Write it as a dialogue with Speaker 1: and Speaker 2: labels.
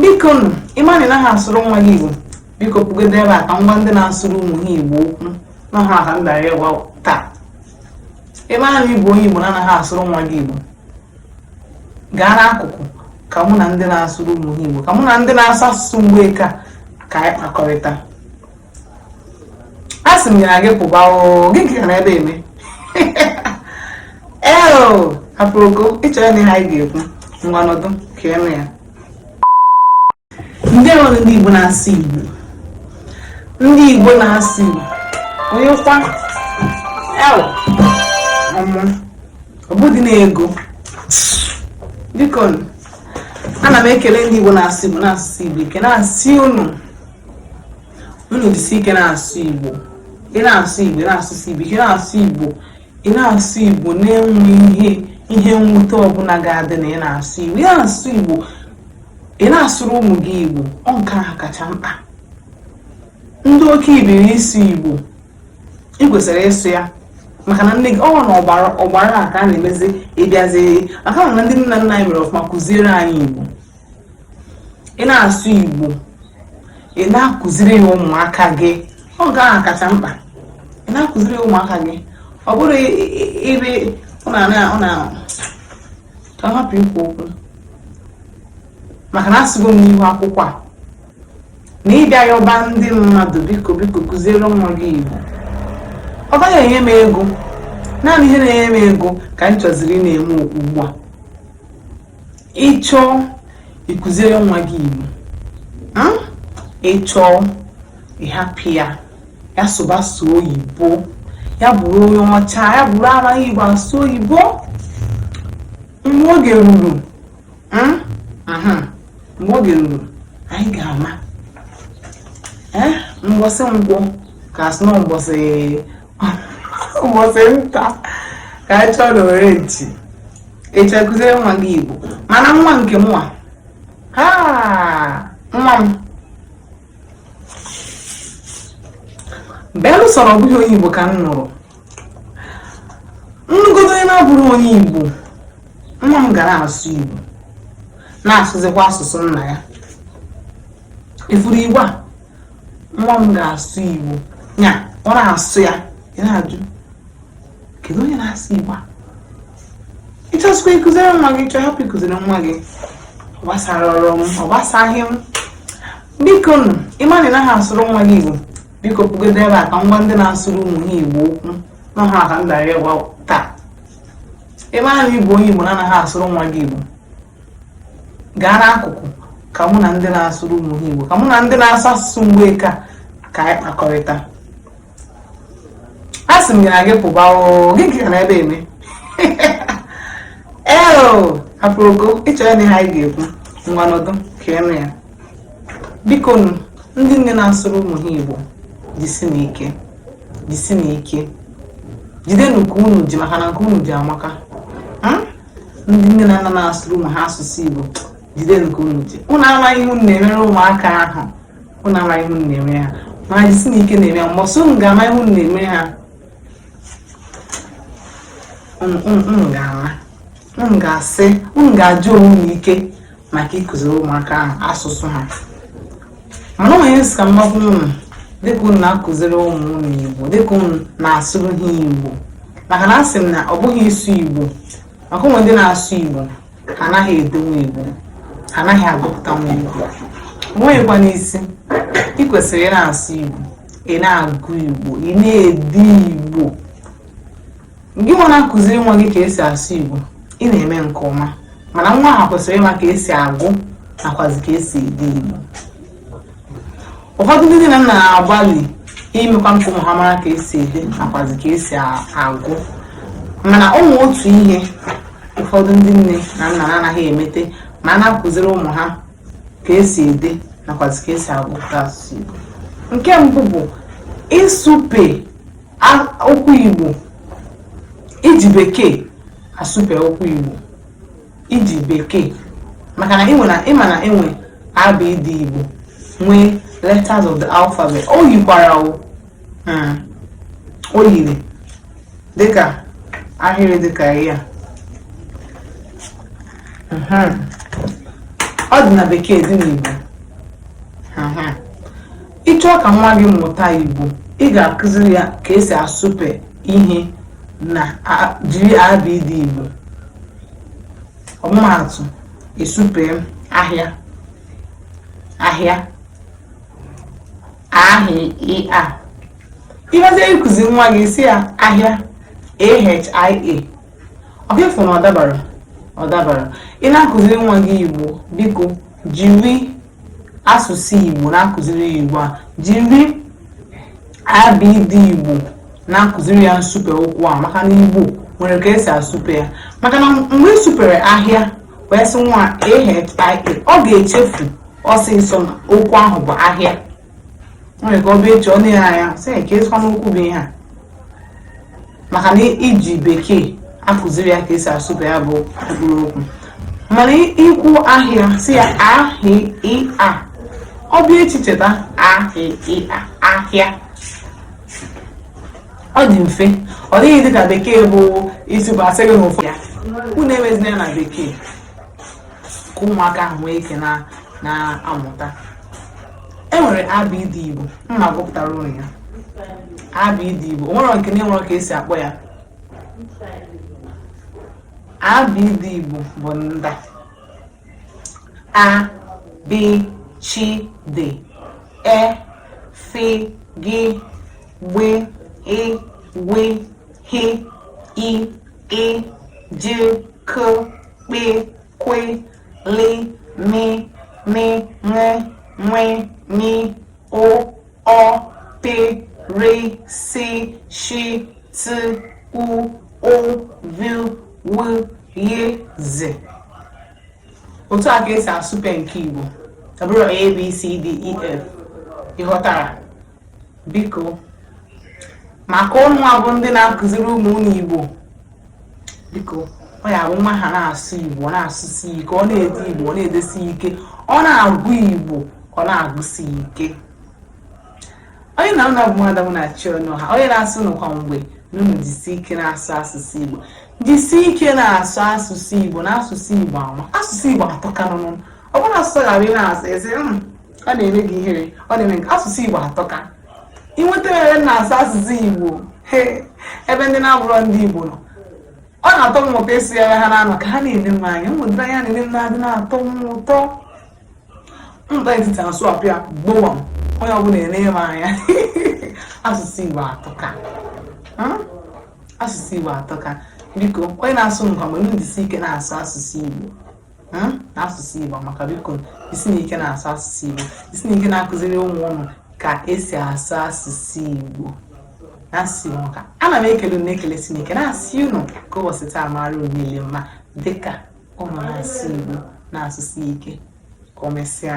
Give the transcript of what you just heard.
Speaker 1: biko nụ ịma na ị naghị asụrụ nwa gị igbo biko pụgodo ebe a ka m gwa ndị na-asụrụ ụmụ ha igbo okwu na ha ka m bịara ịgwa taa ịma na ịbụ onye igbo na-anaghị asụrụ nwa gị igbo gaa n'akụkụ ka mụ na ndị na-asụrụ ụmụ ha igbo ka mụ na ndị na-asụ asụsụ igbo ike ka anyị kpakọrịta a sị m ya gị pụba oo gị nke ka nọ ebe eme ee o aproko ịchọ ịnụ ihe anyị ga-ekwu ngwa nọdụ ka ịnụ ya ndeewo nụ ndị Igbo na-asụ Igbo ndị Igbo na-asụ Igbo onye kwa el ọmụ ọbụdị na-ego biko ana m ekele ndị Igbo na-asụ Igbo na-asụsi Igbo ike na-asị unu unu jisi ike na-asụ igbo ị na-asụ igbo ị na-asụsụ igbo ị na-asụ igbo ị na-asụ igbo na enweghị ihe mwute ọbụla ga-adị na ị na-asụ igbo ị na-asụ igbo ị na-asụrụ ụmụ gị igbo ọ nke ahụ kacha mkpa ndị oke ibiri ịsụ igbo ị kwesịrị ịsụ ya maka na nne gị ọ na ọgbara ọgbara a ka a na-emezi ịbịazi maka na ndị nna nna anyị mere ọfụma kụziere anyị igbo ị na-asụ igbo ị na-akụziri ya ụmụaka gị ọ nke ahụ kacha mkpa ị na-akụziri ya ụmụaka gị ọ bụrụ ebe ọ na-ahapụ ikwu okwu maka na asụgo m n'ihu akwụkwọ a na ịbịa yọba ndị mmadụ biko biko kụziere nwa gị igbo ọ gaghị enye m ego naanị ihe na-enye m ego ka m chọziri ị na-eme ugbu a ịchọ ịkụziere nwa gị igbo hmm? ịchọ ịhapụ ya ya sụba sọ oyibo ya bụrụ onye ọcha ya bụrụ amaghị igbo asụ oyibo mgbe oge ruru hmm? mgbe oge ruru ị ga-ama eh? mbọsị nkwọ ka a sị na mbọsị ụbọchị nta ka a chụọ n'owere nchi ị chọọ kụziere nwa gị igbo mana nwa nke mụnwa ha nwa m belụ sọrọ ọbụghị onye igbo ka m nụrụ m nụgodo onye na-abụrọ onye igbo nwa m ga na-asụ igbo na-asụzikwa asụsụ nna ya ị fụrụ igbo a nwa m ga-asụ Igbo ya ọ na-asụ ya ị na-ajụ kedu onye na-asụ Igbo a ịchọsikwa ịkụziri nwa gị ị chọọ hapụ ịkụziri nwa gị ọ gbasarọ m ọ gbasaghị m biko nụ ịma na ị naghị asụrụ nwa gị Igbo biko pụgodo ebe a ka m gwa ndị na-asụrụ ụmụ ha Igbo okwu na ha ka m bịara ịgwa taa ịma na ịbụ onye Igbo na-anaghị asụrụ nwa gị Igbo gaa n'akụkụ ka mụ na ndị na-asụrụ ụmụ ha Igbo ka mụ na ndị na-asụ asụsụ mgbeke ka anyị kpakọrịta a sị m gị na gị pụba gị ka nọ ebe a eme aproko ị chọrọ ịnụ ihe anyị ga-ekwu ngwa nọdụ ka ị nụ ya bikonụ ndị nne na-asụrụ ụmụ ha Igbo jisinụ ike jisinụ ike jide nke unu ji maka na nke unu ji amaka ndị nne na nna na-asụrụ ụmụ ha asụsụ Igbo jide nke unu ji unu amaghị ihe unu na-emere ụmụaka ahụ unu amaghị ihe unu na-emere ha mana jisinụ ike na-eme ha mbọsị unu ga-ama ihe unu na-emere ha unu ga-ama unu ga-asị unu ga-aja onwe unu ike maka ịkụziri ụmụaka ahụ asụsụ ha mana o nwe ihe m sị ka m gwa unu dịka unu na-akụziri ụmụ unu igbo dịka unu na-asụrụ ha igbo maka na asị m na ọ bụghị ịsụ igbo maka o nwe ndị na-asụ igbo ha anaghị edenwu igbo ha anaghị agụpụtanwu igbo o nweghịkwanụ isi ị kwesịrị ị na-asụ igbo ị na-agụ igbo ị na-ede igbo Gị nwa na-akụziri nwa gị ka esi asụ Igbo, ị na-eme nke ọma mana nwa ahụ kwesịrị ịma ka esi agụ nakwazi ka esi ede Igbo. Ụfọdụ ndị nne na nna na-agbalị imekwa ka ụmụ ha mara ka esi ede nakwazi ka esi agụ mana o nwee otu ihe ụfọdụ ndị nne na nna na-anaghị emete ma ha na-akụziri ụmụ ha ka esi ede nakwazi ka esi agụpụta asụsụ Igbo. Nke mbụ bụ ịsụpe okwu Igbo iji bekee asụpe okwu Igbo iji bekee maka na ịnwe na ị ma na e nwe abịdị Igbo nwee letters of the alphabet o yikwarọ hmm. o yiri dịka ahịrị dịka ya hmm. ọ dị na bekee dị n'Igbo hmm. Ị chọọ ka nwa gị mụta Igbo, ị ga-akụziri ya ka esi asụpe ihe na jiri abịdị Igbo. Ọmụmaatụ, ịsụpe ahịa, ahịa, ahịa. Ị bịazie ịkụziri nwa gị ị sị ya ahịa, ahia, ọkwa ị fụ na ọ dabarọ? Ọ dabarọ. Ị na-akụziri nwa gị Igbo, biko jiri asụsụ Igbo na-akụziri ya Igbo a jiri abịdị Igbo na-akụziri ya nsụpe okwu a maka na Igbo nwere ka esi asụpe ya maka na mgbe ị sụpere ahịa wee sị nwa ahịa ọ ga-echefu ọsịsọ na okwu ahụ bụ ahịa nwere ka ọ bịa echi ọ na-ele anya sị kezikwanụ okwu bụ ihe a maka na i ji bekee akụziri ya ka esi asụpe ya bụ mkpụrụ okwu mana i kwuo ahịa sị ya ahịa ọ bịa echi cheta ahịa ahịa ọ dị mfe ọ dịghị dịka bekee bụ isi bụ asịrị na ụfọdụ ya unu emezina ya na bekee ka ụmụaka ahụ nwee ike na-amụta e nwere abd igbo m ma-agụpụtara unu ya abd igbo o nwere nke na e nwere ka esi akpọ ya abd igbo bụ ndị a a b ch d e f g gb gh gw h i ị j k kp kw lị mị mị ṅị ṅwị nyị ụ ọ pị rị sị shị tị u ụ vü wü yị zị otu a ka esi asụpe nke Igbo ọ bụrụ A B C D E F ị ghọtara biko maka ununwa bụ ndị na-akụziri ụmụ unu igbo biko ọ ya-abụ nwa ahụ na-asụ igbo ọ na-asụsi ike ọ na-ede igbo ọ na-edesi ike ọ na-agụ igbo ọ na-agụsi ike onye na ụlọ bụ mmadụ na chi ọnụ ha onye na-asị unu kwa mgbe na unu jisi ike na-asụ asụsụ igbo jisi ike na-asụ asụsụ igbo na asụsụ igbo amaka asụsụ igbo atọka n'ọnụ ọ bụrọ asụsụ ghara ị na-asụ ezi ọ na-eme gị ihere ọ na-eme gị asụsụ igbo atọka ị nwetara ebe m na-asụ asụsụ igbo he, ebe ndị na-abụrọ ndị igbo nọ ọ na-atọ m ụtọ ịsụ ya ebe ha na-anọ ka ha na-ele m anya ụdịrị anya ha na-ele m na-adị na-atọ m ụtọ m baa etiti asụ apịa gbowa m onye ọbụla ele m anya asụsụ igbo atọka Hmm? asụsụ igbo atọka biko onye na-asị unu kwa mgbe m jisi ike na-asụ asụsụ igbo hmm, na asụsụ Igbo amaka biko jisinụ ike na-asụ asụsụ Igbo jisinụ ike na-akụziri ụmụ unu ka esi asụ asụsụ Igbo na-asị unu ka ana m ekele unu ekele si n'ike na-asị unu ka ụbọchị taa mara unu niile mma dịka unu na-asụ Igbo na-asụsi ike ka e mesịa